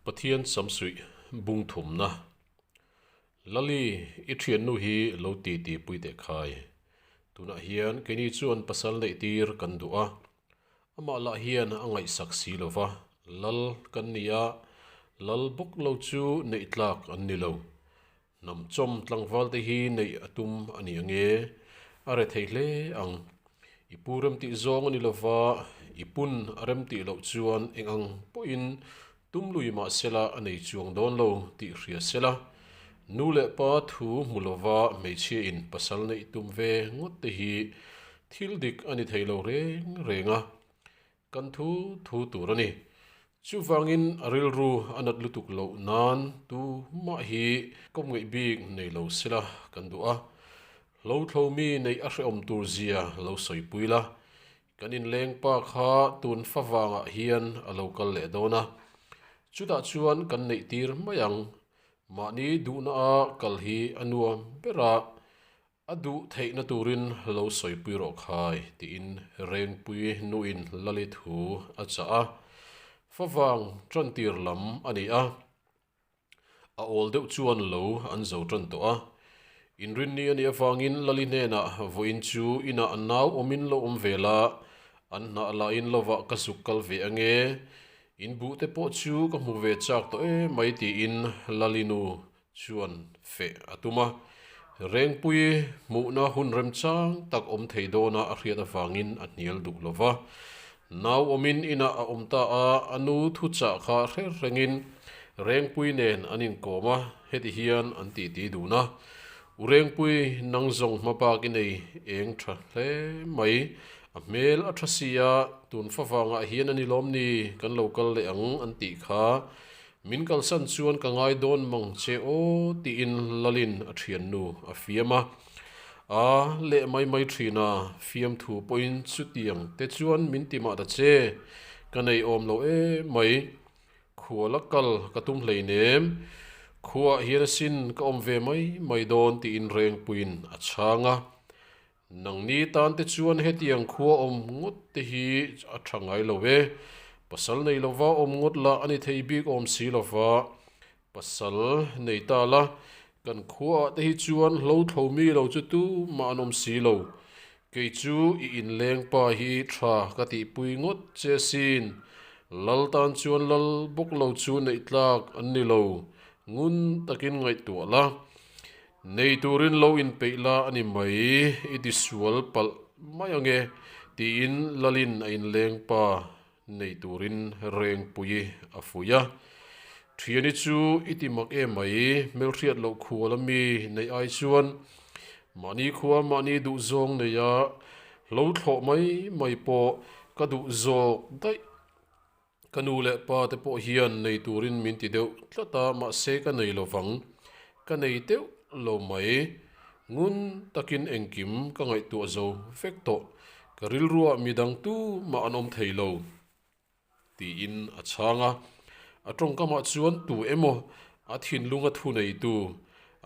Pathian sam suih bung thumna. Lali, i thiannu hi lo ti ti pui teh khai. Tunah hian keini chuan pasal neih tir kan duh a, amah lah hian a ngaihsak si lo va, Lal kan ni a, Lal bawk lo chu neih tlak an ni lo. Hnamchawm tlangvalte hi neih a tum a ni ange? A re thei hle ang. I pu remtih zawng a ni lova, i pun a remtih loh chuan eng ang pawhin tum lui mah sela a nei chuang dawn lo tih hria sela. Nu leh pa thu hmu lova hmeichhiain pasal neih tum ve ngawtte hi thil dik a ni thei lo reng reng a. Kan thu thu tur a ni. Chuvangin a rilru a nat lutuk loh nan tu mah hi kawm ngeih bik nei lo sela kan duh a. Hlothlo mi neih a hrehawm tur zia lo sawipui la. Kan inleng pa kha tunfa vangah hian a lo kal leh dawn a. Chutah chuan kan neih tir mai ang. Mahni duhna a kal hi a nuam bera A duh theihna turin lo sawipui rawh khai, tiin Rengpui nuin Lalithu a chah a. Favang tantir lam a ni a, a awl deuh chuan lo an zo tan tawh a. Inrinni a nih avangin Lali hnenah vawiin chu inah a nau awmin lo awm ve la, an hnah lahin lovah ka zuk kal ve ange, inbuhte pawh chu ka hmu ve chak tawh e mai, tiin Lalinu chuan feh a tum a, Rengpuii hmuhna hun remchang tak awm thei dawna a hriat avangin a hnial duh lo va. Nau awmin inah a awm ta a, a nu thuchah kha hrer rengin Rengpuii nen an inkawm a, heti hian an tih ti dun a, U Rengpuii nang zawng hma bak i nei eng tha hle mai, a hmel a tha sia, tunfa vangah hian a ni lawm ni kan lo kal leh ang an tih kha Min kalsan chuan ka ngai dawn mang che aw tiin Lalin a thiannu a fiam a. A leh mai mai thin a, fiam thu pawhin chutiang te chuan min ti mah ta che, ka nei awm lo em mai. Khua la kal ka tum hleinem, khuaah hian asin ka awm ve mai mai dawn tiin rengpuiin a chhang a. Nang ni tan te chuan hetiang khua awm ngawt te hi a tha ngai lo e. Pasal nei lova awm ngawt lah a ni thei bik awm si lova. Pasal nei ta la, kan khua ah te hi chuan hlo thlo mi lo chu tumah an awm si lo. Kei chu i inleng pa hi tha ka tih pui ngawt che sin. Lal tan chuan lal bawk lo chu neih tlak an ni lo. Ngun takin ngaihtuah la. Nei turin lo inpeih la a ni mai, i tisual palh mai ang e, tiin Lalin a inleng pa nei turin Rengpuii a fuih a. Thiani chu i ti mak e mai, Melhriat loh khua la mi neih ai chuan mahni khua mahni duh zawng nei a, hlo thlawh mai mai pawh ka duh zawk daih. Ka nu leh pa te pawh hian nei turin min ti deuh tlat a, mahse ka nei lo vang. Ka nei deuh lo mai. Ngun takin engkim ka ngaihtuah zo vek tawh. Ka rilruah mi dang tu mah an awm thei lo. Tiin a chhang a. A tawngka mah chuan tu emaw a thinlung a thu nei tu,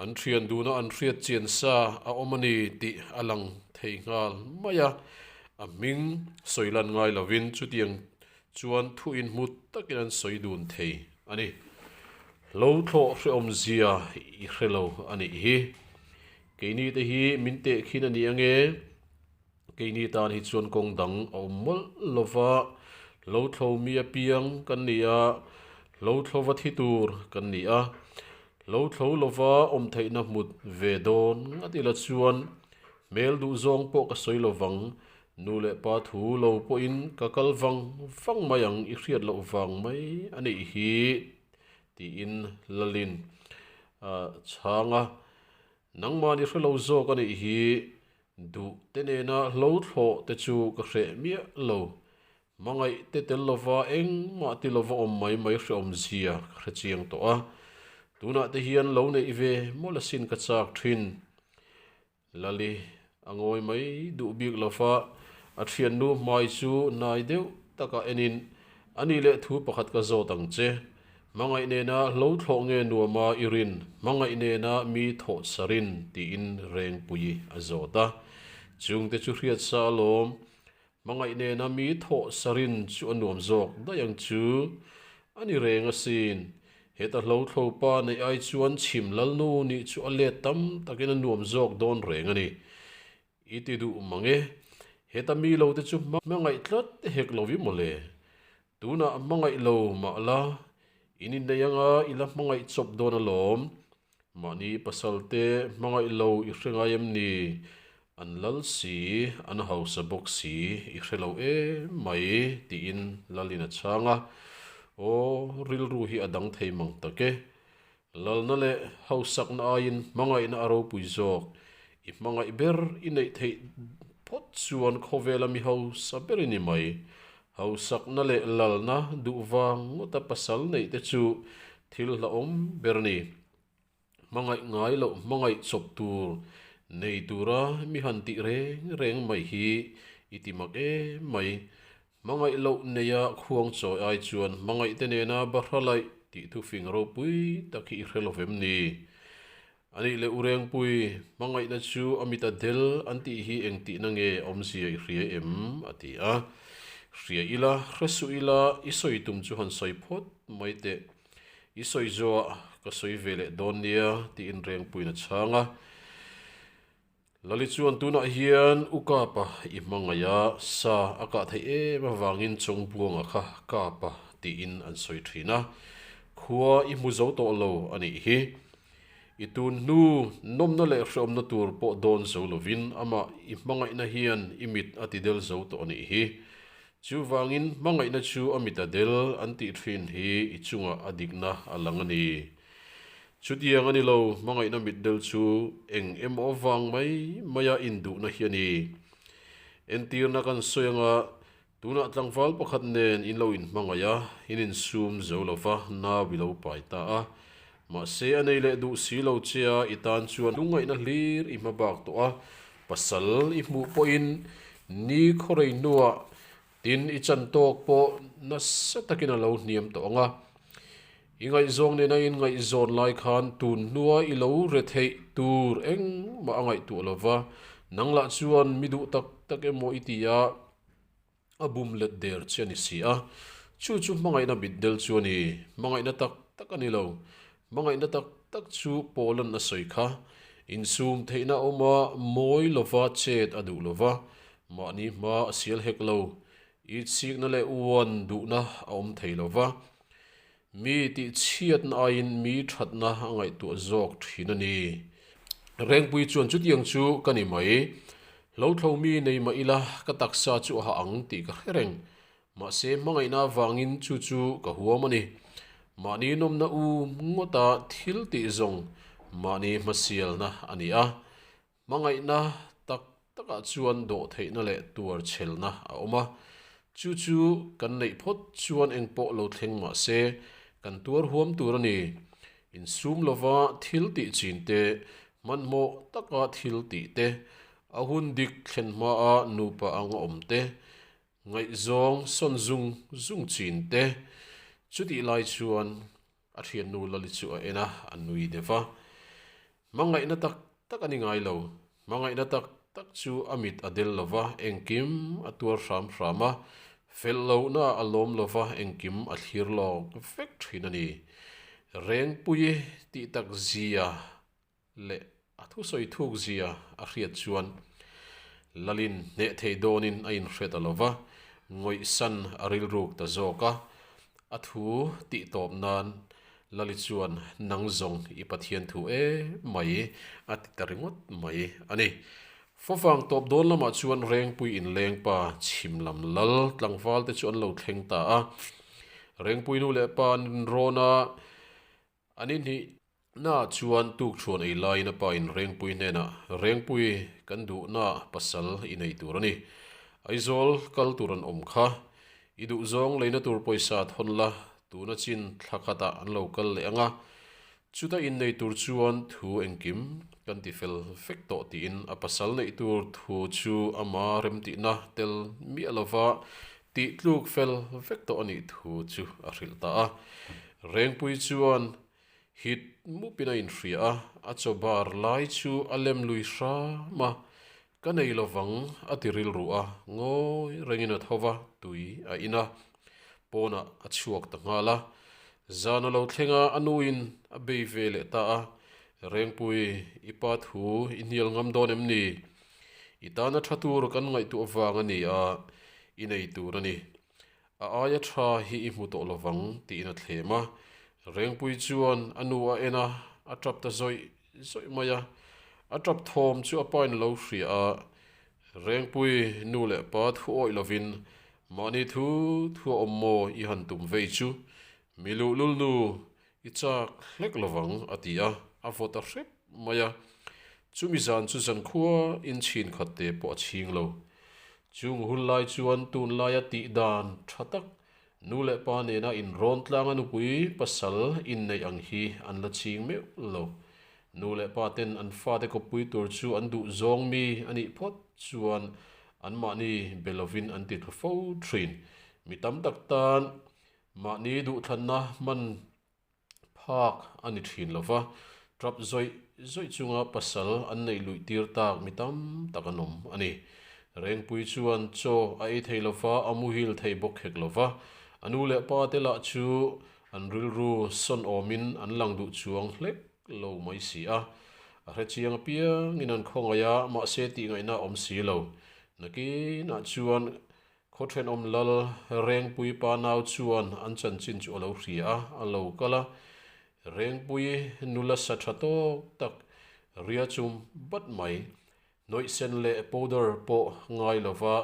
an thian dun a an hriatchian sa a awm a ni tih a lang thei nghal mai a. A hming sawilan ngai lovin chutiang chuan thu inhmut takin an sawi dun thei a ni. Hlothlawh hreawmzia i hre lo a nih hi. Keinite hi min teh khin a ni ange. Keini tan hi chuan kawng dang a awm mawlh lo va, hlothlawh mi apiang kan ni a, hlothlawh va thi tur kan ni a. Hlothlawh lova awm theihna hmut ve dawn ngat ila chuan hmel duh zawng pawh ka sawi lo vang. Nu leh pa thu lo pawhin ka kal vang vang mai ang i hriat loh vang mai a nih hi tiin Lalin a chhang a, nangmahni hre lo zawk a nih hi duh te nena hlothlawh te chu ka hreh miah lo, hmangaih te tel lova engmah ti lova awm mai mai hreawmzia ka hrechiang tawh a, tunah te hian lo neih ve mawlasin ka chak thin. Lali, A ngawi mai duh bik lo fa, a thiannu hmai chu nai deuh taka enin a ni leh thu pakhat ka zawt ang che. Hmangaih nena hlothlawh nge nuama i rin, hmangaih nena mi thawh sa rin tiin rengpuii a zawt a. Chungte chu hriatsa alawm, Hmangaih nena mi thawh sarin chu a nuam zawk daih ang chu. A ni reng asin. Heta hlothlo pa neih ai chuan chhim Lalnu nih chu a let tam takin a nuam zawk dawn reng a ni. I ti duh mang e. Heta mi lo te chu hmangaih tlat e hek lo i mawle. Tunah hmangaih lo mah la, i ni nei anga i la hmangaih chawp dawn alawm. Mahni pasalte hmangaih lo i hre ngai em ni? An Lal si, an hausa bawk si, i hre lo em mai, tiin Lalin a chhang a. Aw, rilru hi a dang thei mang tak e. Lalna leh hausakna aiin hmangaihna a ropui zawk. I hmangaih ber i neih theih phawt chuan khawvel a mi hausa ber i ni mai. Hausakna leh lalna duh vang ngawta pasal neih te chu thil hlauhawm ber ni. Hmangaih ngai loh hmangaih chawp tur nei tura mi han tih reng reng mai hi i ti mak em mai. Hmangaih loh neia khuang chawi ai chuan hmangaihte nena ba hralaih tih thufing ropui tak hi i hrelo vem ni. A nih leh u Rengpuii, hmangaihna chu a mit a del an tih hi eng tihna nge awm zia i hria em? a ti a. Hria ila, hre suh ila, i sawi tum chu han sawi phawt mai teh. I sawi zua, ka sawi ve leh dawn nia, tiin Rengpuiin a chhang a. Lali chuan tunah hian u Kapa i hmangaia sa a kah theih em avangin chawngpuanga kha Kapa tiin an sawi thin a, khua i hmu zo tawh lo a nih hi. I tun hnu nawmna leh hreawmna tur pawh dawn zo lovin amah i hmangaihna hian i mit a ti del zo tawh a nih hi. Chuvangin hmangaihna chu a mi ta del an tih thin hi i chungah a dikna a lang a ni. Chutiang a ni lo, hmangaihna mitdel chu eng emaw vang mai maia induhna hi a ni. Entirna kan sawi anga, tunah tlangval pakhat nen in lo inhmangaih a, in insum zo lo va, nau i lo pai ta a. Mahse, a nei leh duh si lo che a, i tan chuan lungngaihna hlir i hma bak tawh a, pasal i hmuh pawhin ni khaw rei hnuah Tin, i chantawk pawh nasa takin a lo hniam tawh ang a. I ngaihzawng nena in ngaihzawn lai khan tun hnua i lo re theih tur engmah a ngaihtuah lo va, nang lah chuan mi duh tak tak emaw i ti a, a bum let der che a ni si a. Chu chu hmangaihna bitdel chu a ni, hmangaihna tak tak a ni lo. Hmangaihna tak tak chu Poland a sawi kha, insum theihna awma mawi lova chet a duh lova, mahni hma a sial hek lo, itsikna leh uan duhna a awm thei lova, mi tihchhiatna aiin mi thatna a ngaihtuah zawk thin a ni. Rengpui chuan chutiang chu ka ni mai, Hlothlo mi nei mah ila ka taksa chu a ha ang tih ka hre reng, Mahse hmangaihna avangin chu chu ka huam a ni. Mahni nawmna u ngawta thil tih zawng mahni hmasialna a ni a. Hmangaihna tak takah chuan dawhtheihna leh tuarchelna a awm a. Chu chu kan neih phawt chuan engpawh lo thleng mah se, kan tuar huam tur a ni. Insum lova thil tih chin te, hmanhmawh taka thil tih te, a hun dik thlen hmaa nupa ang a awm te, Ngaihzawng sawn zung zung chin te. Chutih lai chuan a thiannu Lali chu a en a, a nui dep a. Hmangaihna tak tak a ni ngai lo. Hmangaihna tak tak chu a mit a del lova engkim a tuar hram hram a, felh lohna a lawm lova engkim a thlir lawk vek thin a ni. Rengpuii tih tak zia leh a thusawi thuk zia a hriat chuan Lalin hneh thei dawnin a inhriat a lo va, Ngawihsan a rilruk ta zawk a, a thu tih tawp nan Lali chuan Nang zawng i Pathian thu e mai a ti ta ringawt mai a ni. Fawvang tawp dawn lamah chuan Rengpui in Lengpa chhim lam lal tlangvalte chu an lo thleng ta a, Rengpuinu leh pa an rinrawn a, A ni hnih naah chuan tukchhuan ei laiin a pa in Rengpuii hnenah, Rengpuii, kan duh naah pasal i nei tur a ni. Aizawl kal tur an awm kha. I duh zawng leina tur pawisa a thawn la, tuna chin thla khatah an lo kal leh ang a. Chuta in nei tur chuan thu engkim kan ti fel fek tawh tiin a pasal neih tur thu chu ama remtihna tel miah lova Tih tluk fel vek tawh a nih thu chu a hrilh ta a. Rengpuii chuan hit mup in a in hria a, a chaw bar lai chu a lem lui hram a, Ka nei lo vang a ti rilru a, ngawi reng in a tho va tui a in a, pawn ah a chhuak ta nghal a. Zan a lo thleng a, a nu in a bei ve leh ta a, Rengpuii i pa thu i hnial ngam dawn em ni? I tana tha tur kan ngaihtuah vang a ni a, i nei tur a ni. A aia tha hi i hmu tawh lo vang, tiin a thlem a. Rengpui chuan a nu a en a, a tap ta zawih zawih mai a. A tap thawm chu a pain lo hria a. Rengpui nu leh pa thu awih lovin, Mahni thu thu a awm maw i han tum vei chu? Miluhlul nu, I chak hlek lo vang, a ti a, a vaw ta hrep mai a. Chumi zan chu zan khua in chhin khat te pawh a chhing lo. Chung hul lai chuan tunlai a tih dan tha tak, Nu leh Pa nena in rawn tlang a nupui pasal inneih ang hi an la ching meuh lo. Nu leh Pa ten an fate kawppui tur chu an duh zawng mi a nih phawt chuan anmahni be lovin an ti thlu fo thin. Mi tam tak tan Mahni duhthlanna hman phak a ni thin lo va, trup zawih zawih chunga pasal an neih luih tir tak mi tam tak an awm a ni. Rengpui chuan chaw a ei thei lo va, a muhil thei bawk hek lo va. A nu leh pa te lah chu an rilru sawn awmin an lang duh chuang hlek lo mai si a. A hre chiang apiangin an khawngaih a, mahse tihngaihna awm si lo. Nakinah chuan Khaw thenawm lal Rengpui pa nau chuan an chanchin chu a lo hria a, a lo kal a. Rengpui nula sa tha tawk tak, ria chum bat mai. Hnawih sen leh powder pawh ngai lova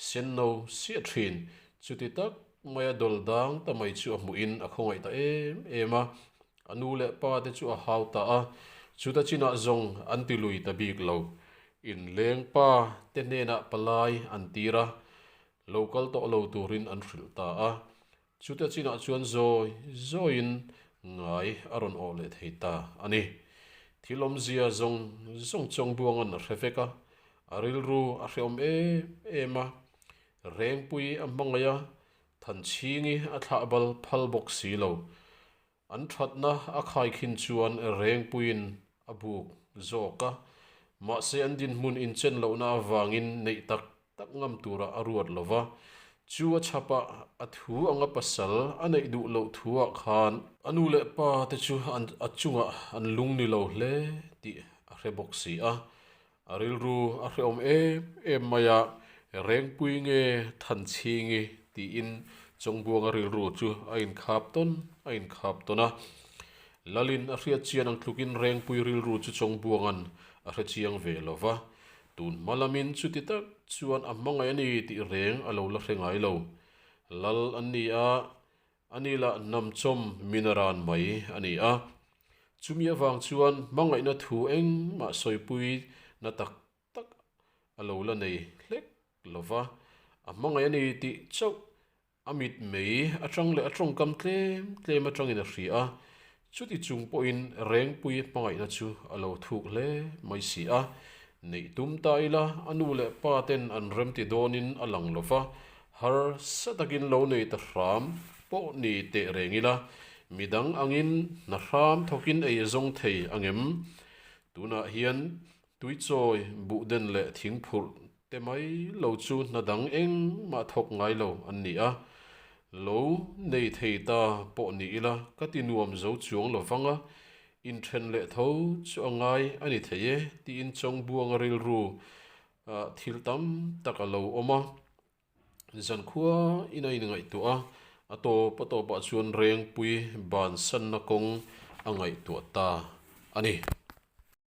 senno siah thin. Chuti tak maia dawldang ta mai chu a hmuhin a khawngaih ta em em a. A nu leh pa te chu a hau ta a, chuta chinah zawng an ti lui ta bik lo. In leng pa te hnenah palai an tir a, lo kal tawh lo turin an hrilh ta a. Chuta chinah chuan zawi zawiin ngai a rawn awh leh thei ta a ni. Thil awmzia zawng zawng chuang buanga'n a hre vek a, a rilru a hrehawm em em a, rengpui a hmangaih a, Than chhing i a thlah bal phal bawk si lo. An thatna a khai khin chuan Rengpuiin a buk zawk a, mahse an dinhmun inchen lohna avangin neih tak tak ngam tura a ruat lo va. Chu a chhap a, a thu anga pasal a neih duh loh thuah khan, a nu leh pa te chu an a chungah an lung ni lo hle tih a hre bawk si a, A rilru a hrehawm em em mai a, Rengpui nge Thanchhing i? tiin Chawngbuanga rilru chu a inkhap tawn a inkhap tawn a. Lalin a hriatchian ang tlukin Rengpui rilru chu Chawngbuanga'n a hrechiang ve lo va, tun hmalamin chuti tak chuan a hmangaih a ni tih reng a lo la hre ngai lo. Lal an ni a, A ni lah namchawm min a ran mai a ni a. Chumi avang chuan hmangaihna thu engmah sawipui na tak tak a lo la nei hlek lo va. A hmangaih a ni tih chauh a mitmei atang leh a tawngkam tlem tlem atangin a hria a. Chuti chung pawhin Rengpuia hmangaihna chu a lo thuk hle mai si a, neih tum ta ila a nu leh pa ten an remti dawnin a lang lo va, harsa takin lo nei ta hram pawh ni teh reng ila midang angin hna hram thawkin ei zawng thei a ngem. Tunah hian Tuichawi, buhden leh thing phurh te mai lo chu hna dang eng mah thawk ngai lo an ni a, lo nei thei ta pawh ni ila ka ti nuam zo chuang lo vang a, inthen leh tho chu a ngai a ni thei e tiin chawngbuanga rilru ah thil tam tak a lo awm a, zankhua in a inngaihtuah a, a tawp a tawp ah chuan rengpui bansanna kawng a ngaihtuah ta a ni.